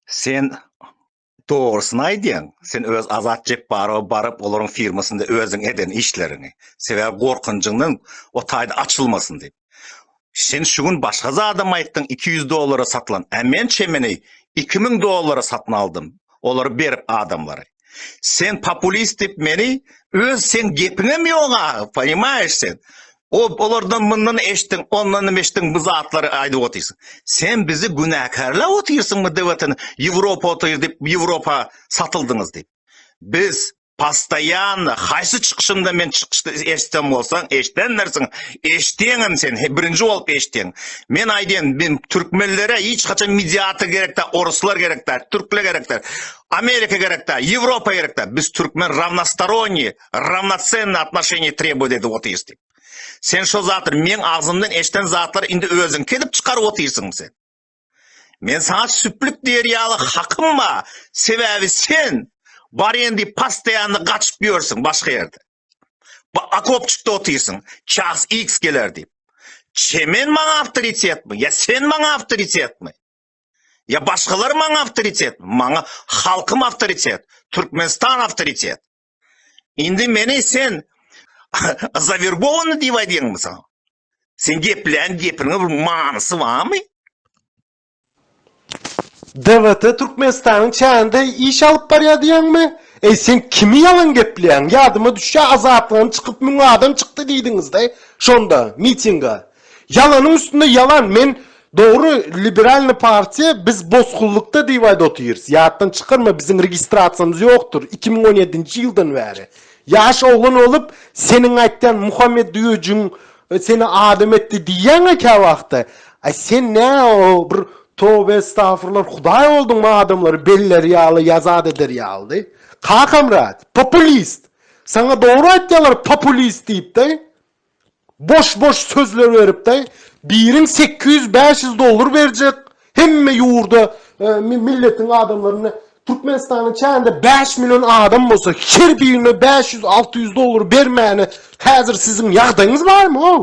Sen dogrusyny aýdýaň. Sen öz Azat Jepbarowa baryp, olaryň firmasynda özüň eden işleriňi, sebäbi gorkunjyňdan o taýda açylmasyn diýip. Sen şu gün başga zadam aýtdyň, iki ýüz dollara satylan. Ä men çemeni iki müň dollara satyn aldym, olary berip adamlary. Sen populist dip meni öz sen gepiňem ýoga, poýmaýyş sen. O olardan mundan eşdiň, ondan eşdiň bu zatlary aýdyp otyrsyň. Sen bizi günäkärläp otyrsyň bu dewletiň Ýewropa otyr dip Ýewropa satyldyňyz dip. Biz postaýanna haýsy çykyşynda men çykyşda eşdem bolsaň eşdendirsiň, eşdiňem sen birinji bolup eşdiň. Men aýdýan men türkmenlere hiç haçan mediator gerekde, oruslar gerekde, türkler gerekde. Amerika gerek da, Ýewropa gerek da, biz türkmen rawnostoronniý, rawnocenniý atnoşeniýe trebowat edip otyrys diýip. Sen şo zatlar meň agzymdan eşden zatlar indi özüňki edip çykaryp otyrsyň sen. Men saňa süplük diýer ýaly hakym ba, sebäbi sen barýan diýip pastaýanly gaçyp ýörsiň başga ýerde. Bu akopçykda otyrsyň, ças X geler diýip. Çemen maňa awtoritetmi, ýa sen maňa awtoritetmi? Ya başkalar maňa avtoritet, maňa halkym avtoritet, Türkmenistan avtoritet. Indi meni sen zavergovanı diýip aýdýaňmy sen? Sen geplän gepiniň bir manysy barmy? DWT Türkmenistanyň çäginde iş alyp barýar diýýäňmi? Eý sen kimi ýalan gepleýäň? Ýadyma düşýär azatlygyň çykyp müň adam çykdy diýdiňizde şonda mitinga. Ýalanyň üstünde ýalan men dogry liberalny partiýa biz bosgunlykda diýip aýda otyrys ýatdan çykarma biziň registrasiýamyz ýokdyr iki müň on ýedinji ýyldan bäri ýaş oglan bolup seniň aýtýan muhammet düýejigiň seni adam etdi diýýäňä käwagtda aý sen nä o bir tobe estafurlar hudaý bolduňmy adamlary belleri ýaly ýazat eder ýalydy kakamrat populist saňa dogry aýtýalar populist diýip de. Boş boş sözler berip de biriň sekiz ýüz bäş ýüz dollar berjek hemme ýurda milletiň adamlaryna Türkmenistanyň çäginde bäş million adam bolsa her birine bäş ýüz alty ýüz dollar bermäne häzir siziň ýagdaýyňyz barmy ow.